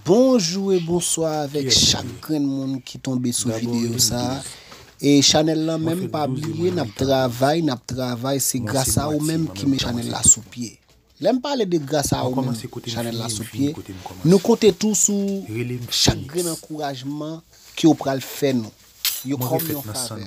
Bonjou e bonswa avèk chak grenn moun ki tonbe sou videyo sa e chanèl lan menm pa bliye nap travay nap travay se gras a ou menm ki met chanèl la sou pye lèm pale de gras a ou menm chanèl la sou pye nou konte tou sou chak grenn ankourajman ke ou pral fè nou yo kòm yon favè.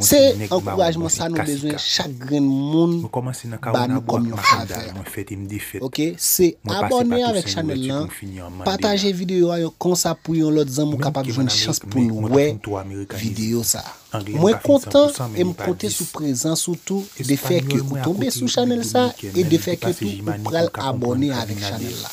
Se ankourajman sa nou bezwen chak grenn moun ba nou kòm yon favè ok se abòne avèk chanèl lan pataje videyo a yon konsa pou yon lòt zanmi w kapab jwenn chans poul wè videyo sa mwen kontan em konte sou prezans ou tou de fè ke ou tonbe sou chanèl sa e de fè ke tou ou pral abòne avèk chanèl la.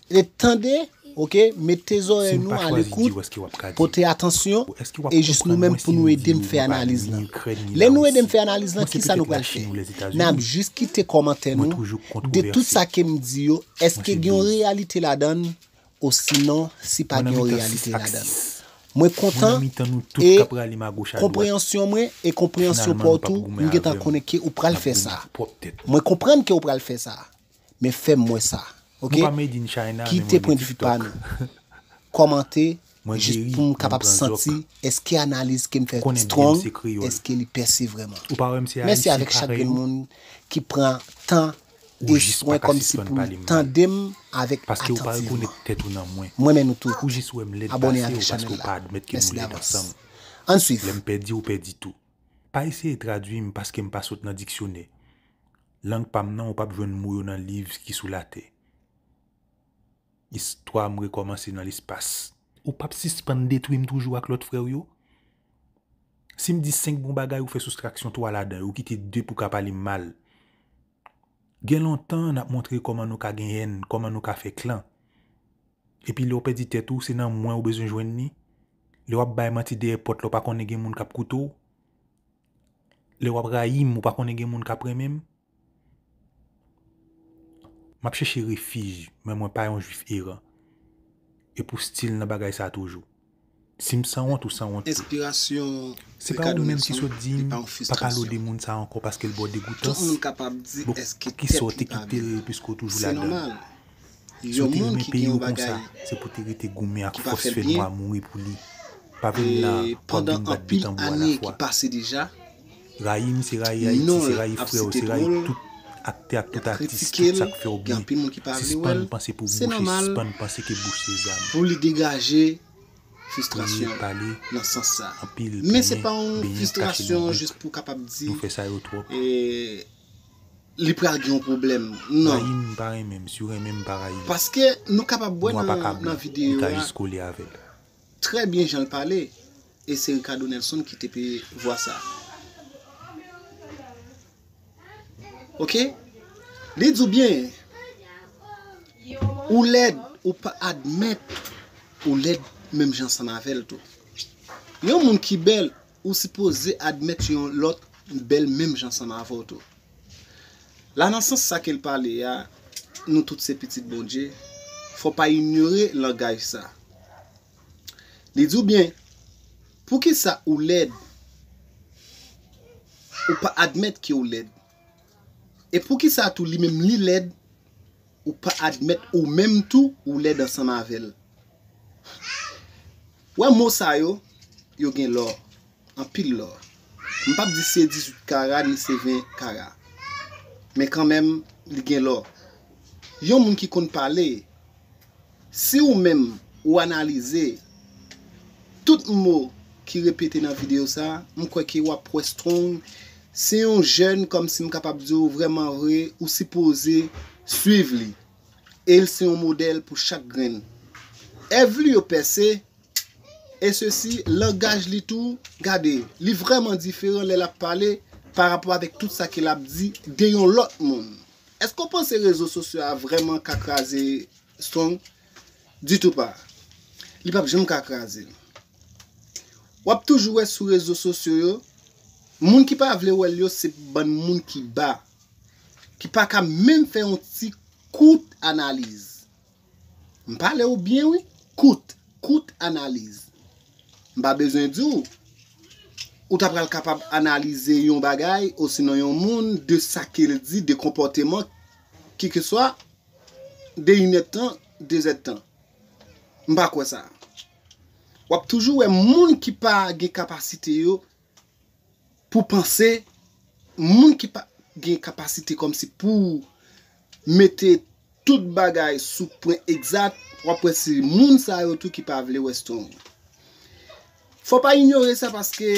Ret tande ok mete zorey nou alekout pote atansyon e jis nou menm pou nou edem fè analiz lan lè nou edem fè analiz lan kisa nou pral fè nap jis kite komantè nou de tout sa kem di yo eske gen yon reyalite ladann osinon si pa gen yon reyalite ladann mwen kontan e konpreyansyon mwen e konpreyansyon paw tou mgentan konnen ke ou pral fè sa mwen konprann ke ou pral fè sa. men fèm wè sa ok kite pwen de vue pa nou kòmante jis poum kapab santi eske analiz kem fè strong eske li pèse vrèman mèsi avèk chak grenn moun ki pran tan e swen kòmsi pou tandem avèk atantivman m renmen nou tout abòne avèk chanèl la mèsi davans ann swiv. Lang pa m nan ou pap jwenn mo yo nan liv ki sou latè Istwa m rekòmanse nan lespas. Ou pap sispann detwi m toujou ak lòt frè w yo Si m di senk bon bagay ou fè soustraksyon twa ladan yo ou kite de pou w ka pale m mal Gen lontan n ap montre kòman nou ka gen èn kòman nou ka fè klan Epi lè w pèdi tèt ou se nan mwen ou bezwen jwenn li Lè w ap bay manti dèyè pòt lè w pa konnen gen moun k ap koute w Lè wap rayim ou pa konnen gen moun kap renmenm? Map chèche refij men mwen pa yon jwif eran. E pou stil nan bagay sa toujou. Sim sanwont ou sanwont tou. Enspirasyon Ricardo Nelson li pa yon fistrasyon. Tout moun kapab di eske tèt li pa byen. Se nòmal. Si w te renmen peyi w konsa, se pou w te rete goumen ak fòs fè nwa mouri pou li. Pa vin la a pou w ap vin bat de tanbou alafwa. Rayi m se rayi Ayiti, se rayi frè w, se rayi tout aktè ak tout atis, tout sa k fè w byen. Sispann panse pou bouch e sispann panse ke bouch se zam. Kriye, pale, anpile, plenyen, benyen ak kache nou viv. Nou fè sa yo twòp. Li pral gen yon pwoblèm nan. Rayi m pa renmen m si w renmen m pa rayi w. Paske nou kapab wè nan videyo a. Nwa pa ka blan, li ka jis kole avè l. Trè byen jan l pale e se Ricardo Nelson ki te peye vwa sa. Ok li di w byen ou lèd ou pa admèt ou lèd menm jan ansanm avè l tou. Yon moun ki bèl ou sipoze admèt yon lòt bèl menm jan sanm avè w tou. La nan sans sa ke l pale a, nou tout se pitit Bondye, fò w pa inyore langaj sa. Li di w byen, Poukisa ou lèd? Ou pa admèt ke w lèd. E poukisa tou li menm li lèd? ou pa admèt ou menm tou ou lèd ansanm avèl ou wè mo sa yo yo gen lò anpil lò m pap di se 18 kara ni se 20 kara men kanmenm li gen lò yon moun ki konn pale. Si ou menm ou analize tout mo ki repete nan videyo sa, m kwè ke wap wè Strong se yon jèn kòmsi m kapab di w vrèman vre ou sipoze swiv li e l se yon modèl pou chak grenn. Èv li yo pèse e sesi langaj li tou gade li vrèman diferan lè lap pale pa rapò avèk tout sa ke lap di de yon lòt moun. Èske w panse rezo sosyo a vrèman ka kraze strong ditou pa li pap janm ka kraze l wap toujou wè sou rezo sosyo yo moun ki pa vle wèl yo se bann moun ki ba ki paka menm fè yon ti kout analiz m pale w byen wi kout kout analiz m pa bezwen di w ou ta pral kapab analize yon bagay osinon yon moun de sa ke l di de konpòteman kikeswa. De inèd tan, dezèd tan. M pa kwè sa. W ap toujou wè moun ki pa gen kapasite yo pou panse, moun ki pa gen kapasite kòmsi pou mete tout bagay sou pwen egzat, w ap wè se moun sa yo tou ki pa vle wè Strong. Fò pa inyore sa paske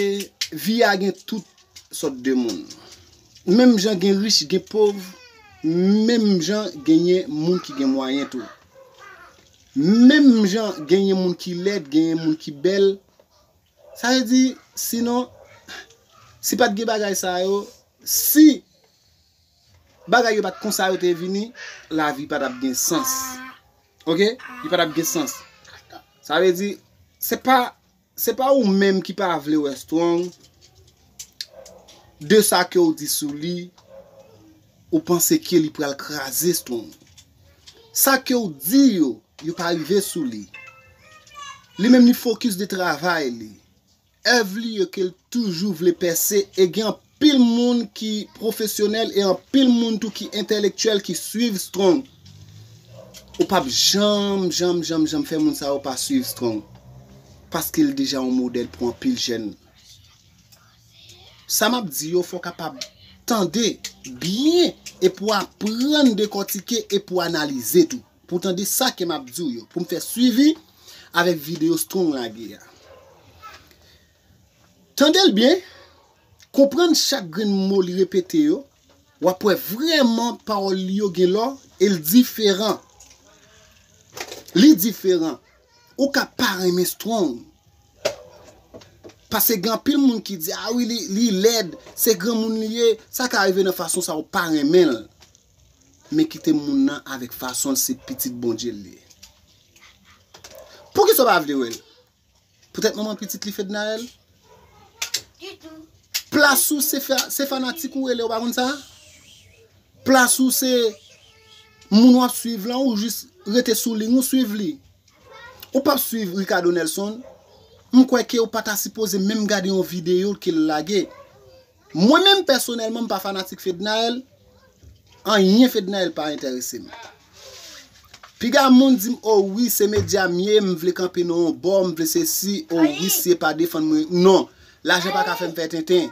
vi a gen tout sòt de moun. Menm jan gen rich gen pov, menm jan genyen moun ki gen mwayen tou. Menm jan genyen moun ki lèd, genyen moun ki bèl. Sa vle di, sinon, si pat gen bagay sa yo, si bagay yo pat konsa yo te vini, lavi pa tap gen sans. Ok, li pa tap gen sans. Sa vle di, se pa, se pa ou menm ki pa vle wè Strong, de sa ke ou di sou li, ou panse ke li pral kraze Strong. Sa ke ou di yo, yo pa rive sou li. Li menm li fokis de travay li. Èv li yo ke l toujou vle pèse e gen anpil moun ki pwofesyonèl e anpil moun tou ki entèlektyèl ki swiv Strong. Ou p ap janm, janm, janm, janm fè moun sa yo pa swiv Strong paske l deja yon modèl pou anpil jèn. Sa m ap di yo fò w kapab tande byen e pou w aprann dekòtike e pou w analize tou. Pou tande sa ke map diw yo. Poum fè swivi avèk video strong lage a. Tandel byen, konprann chak grenn mo li repete yo, wap wè vrèman pawòl li yo gen lò el diferan. Li diferan. Ou ka pa renmen strong. Pase gen anpil moun ki di a wi li lèd, se granmoun li ye, sa ka rive nan fason sa ou pa renmenl. Men kite moun nan avèk fasonl se pitit Bondyel li ye. Poukisa ou pa vle wèl? Poutèt manman pitit li Fednaelle? Plas ou se fanatik ou rele ou pa konn sa? Plas ou se moun wap swiv lan ou jis rete sou ling ou swiv li? Ou pap swiv Ricardo Nelson? M kwè ke ou pata sipoze menm gade yon videyo kel lage. Mwen menm pèsonèlman m pa fanatik Fednaelle, anyen Fednaelle pa entèrese m. Piga moun di m oh wi se medya m ye m vle kanpe nan yon bò, m vle sesi, oh wi si e pa defann mwen, non, lajan pa ka fè m fè tenten.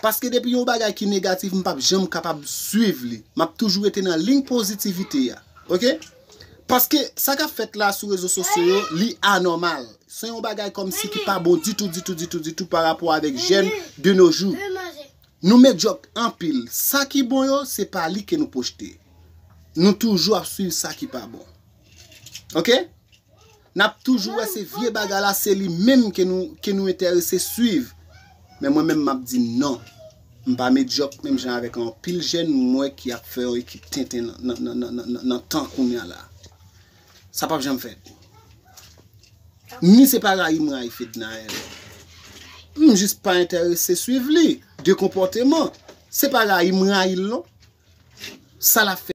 Paske depi yon bagay ki negatif m pap janm kapab swiv li, m ap toujou rete nan liy pozitivite a. Ok. Paske sa kap fèt la sou rezo sosyo yo li anòmal. Se yon bagay kòmsi ki pa bon ditou ditou ditou ditou pa rapò avèk jèn de no jou. Nou medyòk anpil. Sa ki bon yo se pa li ke nou pwojte. Nou toujou ap swiv sa ki pa bon. Ok. Nap toujou wè se vye bagay la se li menm ke nou ke nou entèrese swiv men mwen menm map di non m pa medyòk menm jan avèk anpil jèn m wè ki ap fè yon ekip tenten nan tan kounya la sa pap janm fèt ni se pa rayi m rayi Fednaelle m jis pa entèrese swiv li de konpòteman se pa rayi m rayi l non sa lap fè.